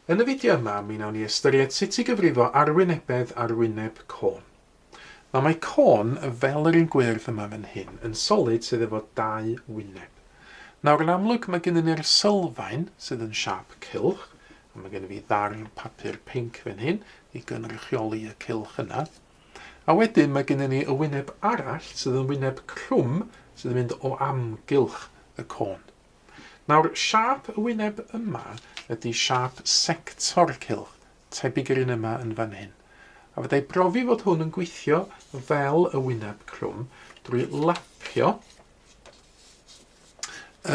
Yn y fideo yma, mi wnawn ni ystyried sut i gyfrifo arwynebedd ar wyneb côn. Nawr mae côn, fel yr un gwyrdd yma fan hyn, yn solid sydd efo dau wyneb. Nawr yn amlwg mae gennyn ni'r sylfaen sydd yn siâp cylch, a mae gennyn fi ddarn papur pinc fan hyn i gynrychioli y cylch yna. A wedyn mae gennyn ni y wyneb arall sydd yn wyneb crwm sydd yn mynd o amgylch y côn. Nawr, siâp y wyneb yma ydi siâp sector cylch, tebyg i'r un yma yn fan hyn. A fyddai brofi fod hwn yn gweithio fel y wyneb crwm drwy lapio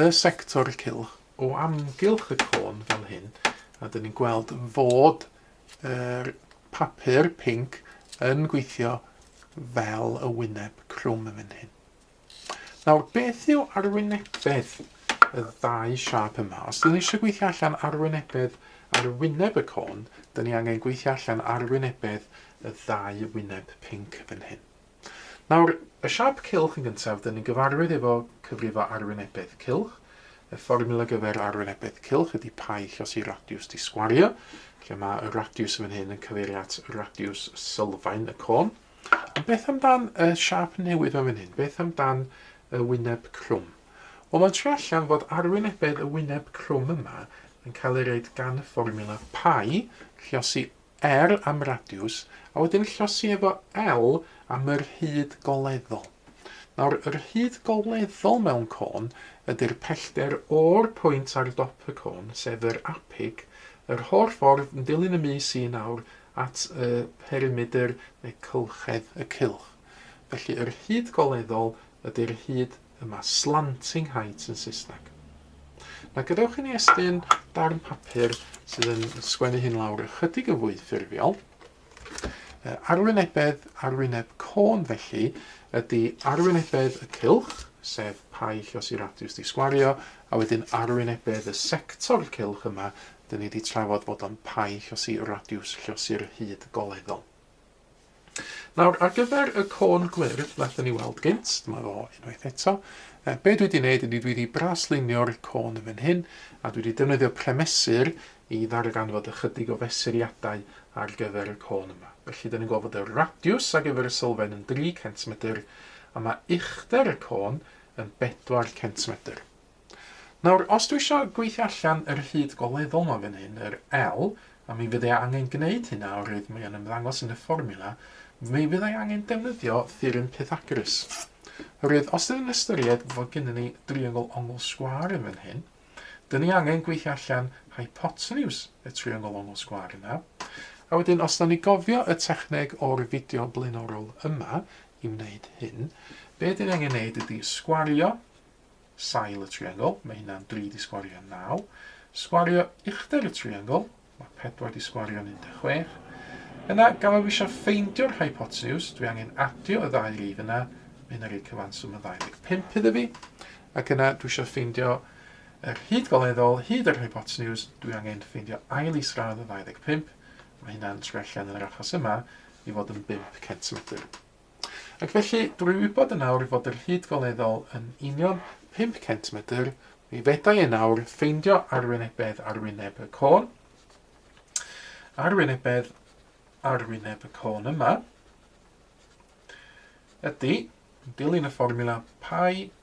y sector cylch o amgylch y côn fel hyn, a dyn ni'n gweld fod yr papur pink yn gweithio fel y wyneb crwm yn fan hyn. Nawr, beth yw arwynebedd y ddau siâp yma? Os dyn ni eisiau gweithio allan arwynebedd ar wyneb y côn, dyn ni angen gweithio allan arwynebedd y ddau wyneb pinc fan hyn. Nawr, y siâp cylch yn gyntaf, dyn ni'n gyfarwydd efo cyfrifo arwynebedd cylch. Y fformula gyfer arwynebedd cylch ydy pai llos i radiws disgwario, lle mae y radiws fan hyn yn cyfeirio at radiws sylfaen y côn. A beth amdan y siâp newydd ma fan hyn? Beth amdan y wyneb clwm? Wel mae'n trio allan fod arwynebedd y wyneb clwm yma yn cael ei reid gan y fformiwla pi, llosi R am radiws, a wedyn llosi efo L am y rhyd goleddol. Nawr, y rhyd goleddol mewn côn ydy'r pellter o'r pwynt ar dop y côn, sef yr apig, yr holl ffordd yn dilyn y mis un awr at y perimedr neu cylchedd y cylch. Felly yr hyd goleddol ydy'r hyd yma, slanting height yn Saesneg. Na gadewch i ni estyn darn papur sydd yn sgwennu hyn lawr ychydig yn fwy ffurfiol. Arwynebedd, arwyneb côn felly, ydy arwynebedd y cylch, sef paill os i radiws di sgwario, a wedyn arwynebedd y sector cylch yma, 'dyn ni 'di trafod fod o'n pai llosi radiws llosi'r hyd goleddol. Nawr, ar gyfer y côn gwyrdd wnaethon ni weld gynt, dyma fo unwaith eto. E, be dwi wedi gwneud ydy dwi wedi braslunio'r côn yn fan hyn, a dwi wedi defnyddio premesur i ddarganfod ychydig o fesuriadau ar gyfer y côn yma. Felly, dyn ni'n gweld fod y radiws ar gyfer y sylfaen yn 3 centimetr, a mae uchder y côn yn 4 centimetr. Nawr, os dwi isio gweithio allan yr hyd goleddol 'ma fan hyn, yr L, a mi fydda i angen gwneud hynna oherwydd mae o'n ymddangos yn y fformiwla, mi fydda i angen defnyddio theorem Pythagoras. Oherwydd, os ydyn ni'n ystyried fod gennym ni driongl ongl sgwâr yn fan hyn, dyn ni angen gweithio allan hypotenws y triongl ongl sgwâr yna. A wedyn, os da ni gofio y techneg o'r fideo blaenorol yma i wneud hyn, be dyn ni angen wneud ydy sgwario sail y triongl, mae hynna'n 3 di sgwario 9. Sgwario uchder y triongl, mae 4 di sgwario 16. Yna, gan fod fi eisiau ffeindio'r hypotenuse, dwi angen adio y ddau rif yna, mae hynna'n rhoi cyfanswm o 25 iddo fi. Ac yna, dwi eisiau ffeindio yr hyd goleddol, hyd yr hypotenuse, dwi angen ffeindio ail isradd o 25, mae hynna'n trwy allan yn yr achos yma i fod yn 5 centimetr. Ac felly, drwy wybod yn awr fod yr hyd goleddol yn union 500 medr, mi fedrai yn awr ffeindio arwynebedd ar wyneb y côn, arwynebedd ar wyneb y côn yma, ydy, yn dilyn y fformula pi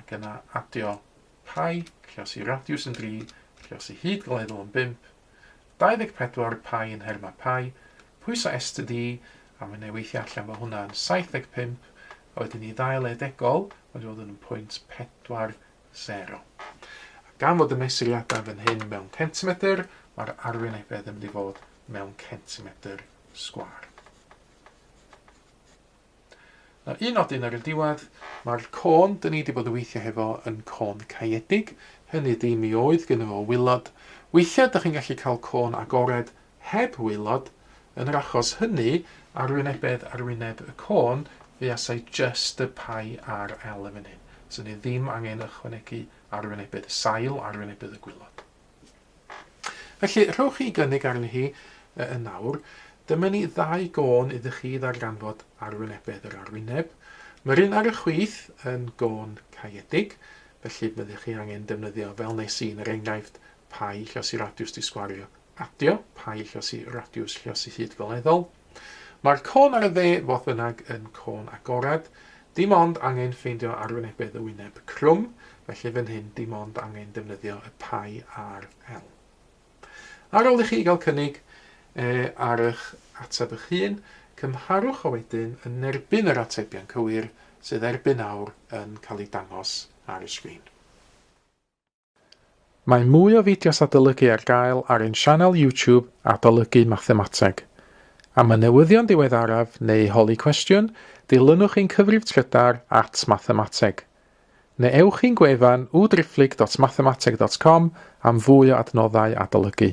ac yna adio Pi, Ciosi Radiws yn 3, Ciosi Hyd Gleddol yn 5, 24 Pi yn nhermau Pi, pwyso STD, a mae'n ei weithio allan fo hwnna yn 75, a wedyn i ddail edegol, mae'n dod yn 0.40. A gan fod y mesuriadau fan hyn mewn centimetr, mae'r arwynebedd yn mynd i fod mewn centimetr sgwar. A un nodyn ar y diwedd, mae'r côn 'dyn ni 'di bod yn weithio hefo yn côn caeedig, hynny ydi mi oedd gynno fo waelod, weithiau 'dych chi'n gallu cael côn agored heb waelod, yn yr achos hynny, arwynebedd ar wyneb y côn, fuasai jyst y Pi ar L yn fan hyn, 'swn i ddim angen ychwanegu arwynebedd y sail, arwynebedd y gwaelod. Felly, rhowch chi gynnig arni hi yn awr. Dyma ni ddau gân iddo chi ddarganfod arwynebedd yr arwyneb. Mae'r un ar y chwith yn gân caeedig, felly byddech chi angen defnyddio fel nes i yn yr enghraifft, pai llosi radiws disgwario adio, pai llosi radiws llosi hyd goleddol. Mae'r côn ar y dde fodd bynnag yn côn agored, dim ond angen ffeindio arwynebedd y wyneb crwm, felly fan hyn dim ond angen defnyddio y pie ar L. Ar ôl i chi gael cynnig e ar eich ateb eich hun, cymharwch o wedyn yn erbyn yr atebion cywir sydd erbyn awr yn cael eu dangos ar y sgrin. Mae mwy o fideos adolygu ar gael ar ein sianel YouTube Adolygu Mathemateg. Am y newyddion diweddaraf neu holi cwestiwn, dilynwch ein cyfrif trydar at Mathemateg. Neu ewch i'n gwefan www.driphlyg.mathemateg.com am fwy o adnoddau adolygu.